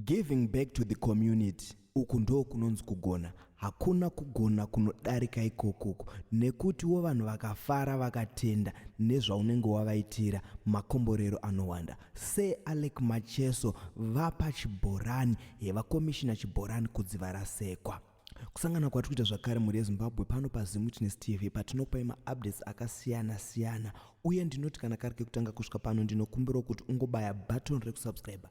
Giving back to the community uku ndoo kunonzi kugona hakuna kugona kunodarika ikokuku nekutiwo vanhu vakafara vakatenda nezvaunenge wavaitira makomborero anowanda se alec macheso vapa chibhorani hevakomishina chibhorani kudziva rasekwa kusangana kwatiri kuita zvakare mhuri yezimbabwe pano pazimwitness tv patinokupai maupdates akasiyana siyana uye ndinoti kana kari kekutanga kusvika pano ndinokumbirawo kuti ungobaya button rekusubscriber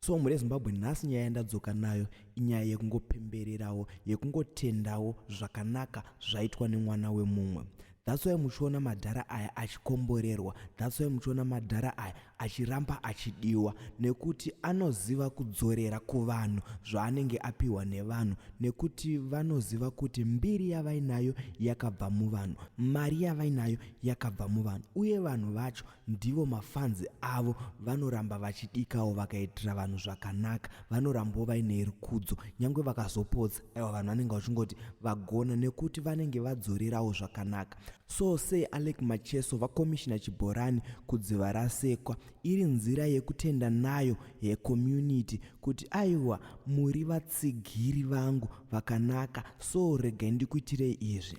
so mhuri yezimbabwe nhasi nyaya yandadzoka nayo inyaya yekungopembererawo yekungotendawo zvakanaka zvaitwa nemwana wemumwe That's why muchiona madhara aya achikomborerwa. That's why muchiona madhara aya achiramba achidiwa nekuti anoziva kudzorera kuvanhu zvaanenge apiwa nevanhu nekuti vanoziva kuti mbiri yavainayo yakabva muvanhu, mari yavainayo yakabva muvanhu uye vanhu vacho Ndivo mafans avo vanoramba vachidikawo vakaitira vanhu zvakanaka vanorambawo vaine rukudzo nyangwe vakazopotsa aiwa vanhu vanenge vachingoti vagona nekuti vanenge vadzorerawo zvakanaka so sei alec macheso vakomishina chibhorani kudziva rasekwa iri nzira yekutenda nayo yecommunity kuti aiwa muri vatsigiri vangu vakanaka so regai ndikuitirei izvi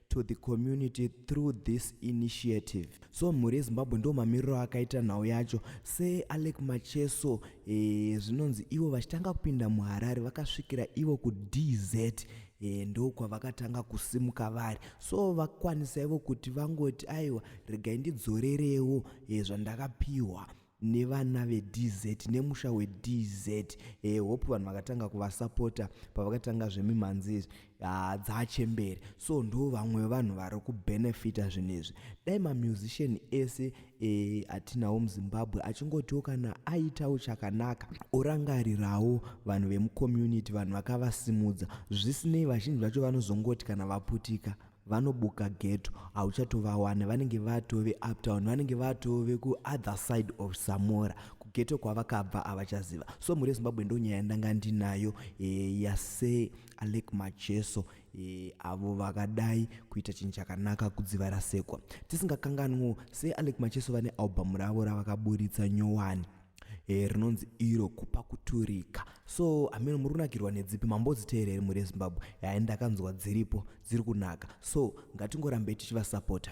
to the community through this initiative so mhuri yezimbabwe ndo mamiriro akaita nhau yacho sealec macheso eh, zvinonzi ivo vachitanga kupinda muharare vakasvikira ivo kudz e, eh, ndokwavakatanga kusimuka vari so vakwanisa ivo kuti vangoti aiwa regai ndidzorerewo e, zvandakapiwa e, nevana vedz nemusha wedz e, hope vanhu vakatanga kuvasapota pavakatanga zvemimhanzi izvi ah, dzaachembere so ndo vamwe vanhu vari kubenefita zvinhu izvi dai mamusician ese e, atinawo muzimbabwe achingotiwo kana aitawo chakanaka orangarirawo vanhu vemucommunity vanhu vakavasimudza zvisinei vazhinji vacho vanozongoti kana vaputika vanobuka geto hauchatovawane vanenge vatove uptown vanenge vatove kuother side of samora kugeto kwavakabva havachaziva so mhuri yezimbabwe ndonyaya ndanga ndinayo e, yase alek macheso e, avo vakadai kuita chinhu chakanaka kudziva rasekwa tisingakanganwo se alek macheso vane albhamu ravo ravakaburitsa nyowani e, rinonzi iro kupa kuturika so ameno muri kunakirwa nedzipi mambodziteera here muri ezimbabwe yaani ndakanzwa dziripo dziri kunaka so ngatingorambei tichivasapota